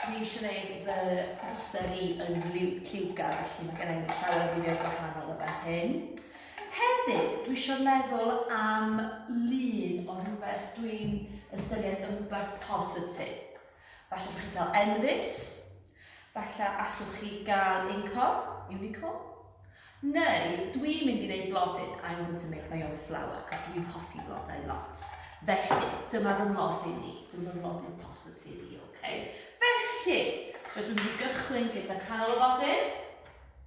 Dwi eisiau gwneud fy mhoster i yn lliwgar, felly mae gennym ni llawer o ddyddiau gwahanol o fan hyn. Hefyd, dwi eisiau meddwl am lun o rhywbeth dwi'n ystyried yn rhywbeth positif. Falle bych chi'n cael enfys, falle allwch chi gael incor, unicorn, Neu dwi'n mynd i wneud blodyn, I'm going to make my own flour, achos dwi'n hoffi blodau lot. Felly, dyma fy mlodyn ni, dyma fy mlodyn positif i, ok? Felly, so dwi'n mynd i gychwyn gyda canol y flodyn.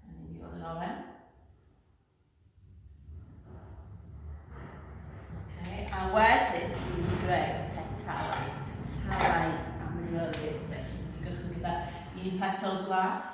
Mae'n mynd i fod yn oren. Okay, a wedyn, dwi'n mynd i greu petalau, petalau amryfydd. Felly, dwi'n mynd i gychwyn gyda un petal glas,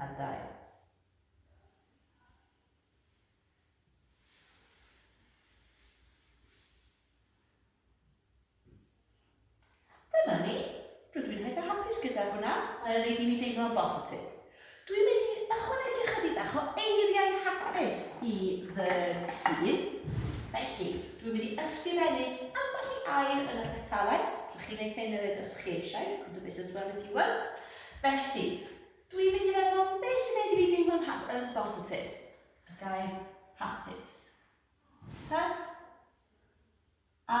Ar gael. Dyna ni. Rydw i'n eitha hapus gyda hwnna. Mae'n ei i mi deimlo'n bositif. Dwi'n mynd i ychwanegu ychydig bach o eiriau hapus i fy hun. Felly, dwi'n mynd i ysgrifennu ambell i air yn y petalau. Allwch chi wneud hyn hefyd os chi eisiau, you can do this as well if you want. Felly, dwi'n mynd i feddwl beth sy'n gwneud i fi deimlo'n yn bositif. Y gair hapus. Ha? A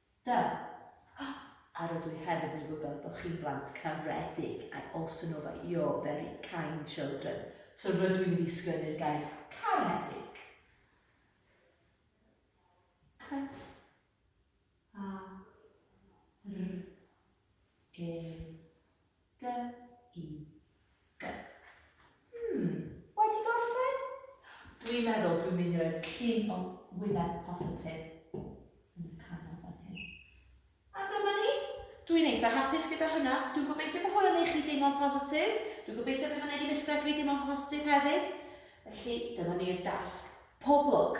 Da. A, a rydw i hefyd yn gwybod bod chi'n blant caredig, I also know that you're very kind children. So rydw i'n mynd i sgwennu'r gair caredig. C, a, r, e, Gy i gyc. Hmm, wedi gorffen? Dwi'n meddwl dwi'n mynd i roi cyn o wyneb positif yn y canol fan hyn. A dyma ni. Dwi'n eitha hapus gyda hwnna. Dwi'n gobeithio bod hwn yn ei chi deimlo'n positif. Dwi'n gobeithio bod hwn wedi misgled fi deimlo'n positif hefyd. Felly, dyma ni'r dasg. Pob lwc!